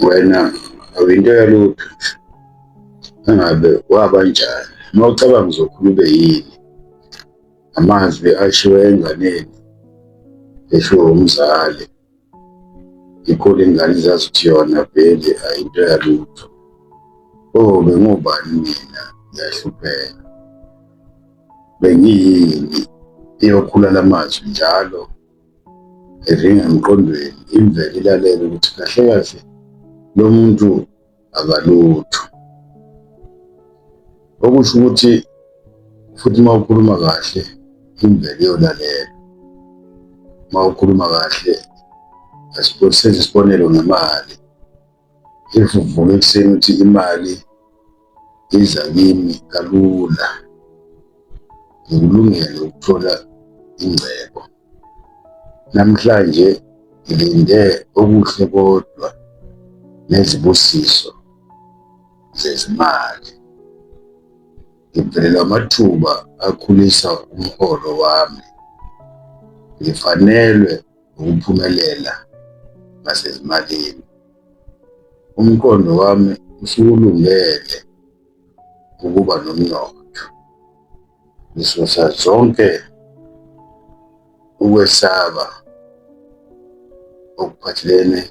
wena awuyinto yalutho engabe waba njani uma ucabanga uzokhula ube yini amazwi ashiwe enganeni eshiwo umzali ikhulu ingane zazi ukuthi yona vele ayinto yalutho o oh, bengubani mina ngiyahlupheka bengiyini iyokhula la mazwi njalo evinga emqondweni imvele ilalele ukuthi kahle kahle lo muntu akalutho okusho ukuthi futhi uma ukhuluma kahle imvele iyolalela uma ukhuluma kahle asibonise isibonelo ngemali if uvuka ekuseni ukuthi imali iza kimi kalula ngikulungele ukuthola ingcebo namhlanje ngilinde okuhle kodwa nezibusiso zezimali ngivelelwa amathuba akhulisa umholo wami ngifanelwe ngokuphumelela ngasezimalini. Umqondo wami usukulungele ukuba nomnotho. Ngisusa zonke ukwesaba okuphathelene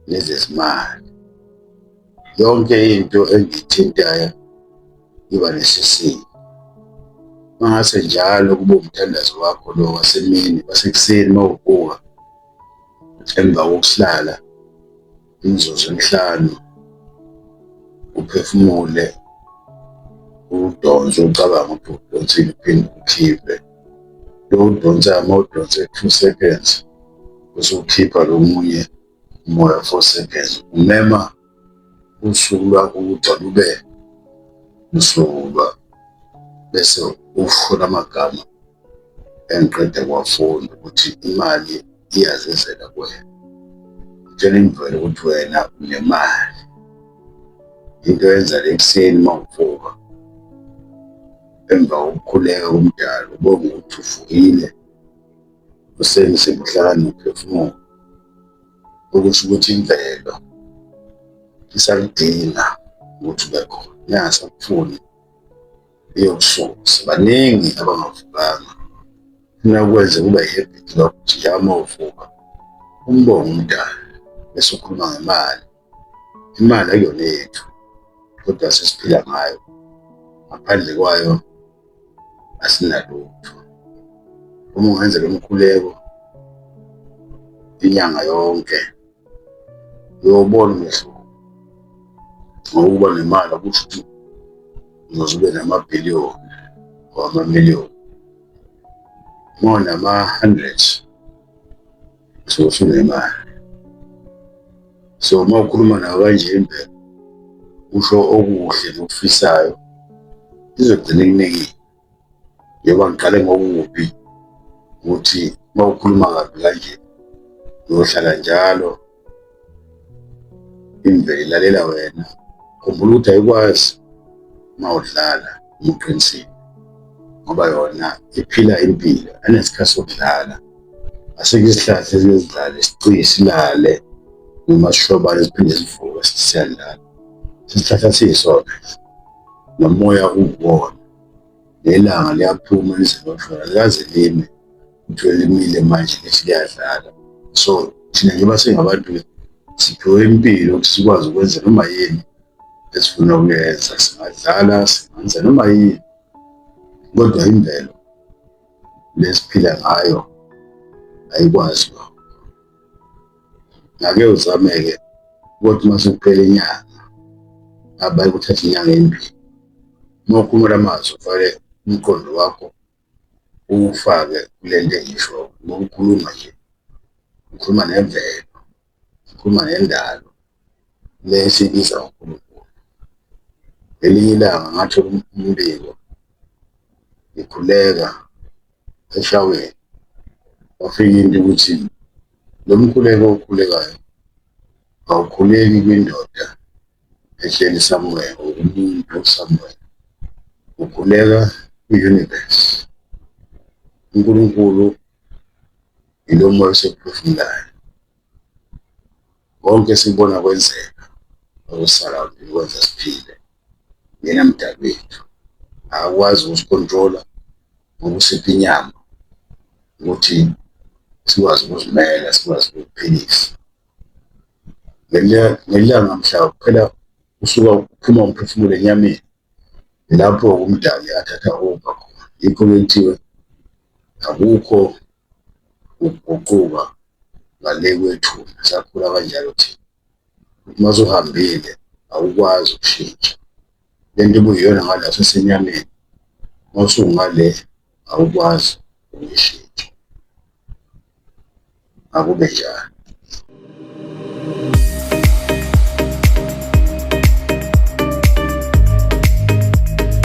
nezezimali. yonke into engithintayo iba nesisindo mangase njalo kube umthandazo wakho lo wasemini wasekuseni uma uvuka emva kokuhlala imizuzu emihlanu uphefumule udonse ucabanga ukuthi udonsile uphinde ukhiphe lo udonsa ama udonse two seconds usukhipha lo munye umoya ofosekezo umema usuku lwakho ukuthi alube usuku lwakho bese ufuna amagama engiqede kwafunda ukuthi imali iyazizela kuwena tshela imvelo ukuthi wena unemali into yenza le ekuseni uma uvuka emva kokukhuleka komdala ubonga ukuthi uvukile usebenzise ubuhlakani nokuphefumula okusho ukuthi imvelo isakudinga ukuthi ube khona ingasakufuni iyokususa baningi abangavukanga funa ukwenze kube i-habit lokho ukuthi yama uvuka umbongo umdala bese ukhuluma ngemali imali ayona yethu kodwa sesiphila ngayo ngaphandle kwayo asinalutho uma ungenzela umkhuleko inyanga yonke uyobona umehluko ngokuba nemali akusho ukuthi uzoze ube namabhiliyoni or amamiliyoni more nama-hundred so ufuna imali so uma ukhuluma nayo kanje impela usho okuhle nokufisayo izogcina ikunekile yeba ngiqale ngokubi ukuthi uma ukhuluma kabi kanje uyohlala njalo imvelo ilalela wena khumbula ukuthi ayikwazi uma udlala uma uqinisile ngoba yona iphila impilo anesikhathi sokudlala asike isihlahla esinezidlala isiqiye silale noma sihlobane siphinde sivuke siyadlala isihlahla siyisona nomoya uwuwona Lelanga liyaphuma lizeloshona likaze lime kuthiwe limile manje lithi liyadlala so thina njengoba singabantu siphiwe impilo ukuthi sikwazi ukwenza noma yini esifuna ukuyenza singadlala singenza noma yini kodwa imvelo lesiphila ngayo ayikwazi lokho ngake uzameke ukuthi uma sekuphela inyanga abaye kuthatha inyanga embili uma ukhumula amazwi ufake umqondo wakho uwufake kule nto engisho ngokukhuluma nje ukhuluma nemvelo ukhuluma nendalo le esibiza unkulunkulu ngelinye ilanga ngathola umbiko ngikhuleka eshaweni wafika into ukuthi lo mkhuleko okhulekayo awukhuleki kwindoda ehleli somewhere or umuntu somewhere ukhuleka kwi-universe unkulunkulu yilo moya osekuphefumulayo Konke sikubona kwenzeka okusarawundini kwenza siphile yena mdali wethu akakwazi ukusikhontrola ngokusipha inyama ukuthi sikwazi ukuzimela sikwazi ukuphilisa ngelanga mhla kuphela usuka uphuma umphefumulo enyameni lapho umdali athatha over khona yikho kuthiwe akukho ukuguquka ngale kwethu sakhula kanjalo thina uma suhambile awukwazi ukushintsha le nto ibuyiyona ngala sesenyameni uma usungale awukwazi ukuyishintsha akube njalo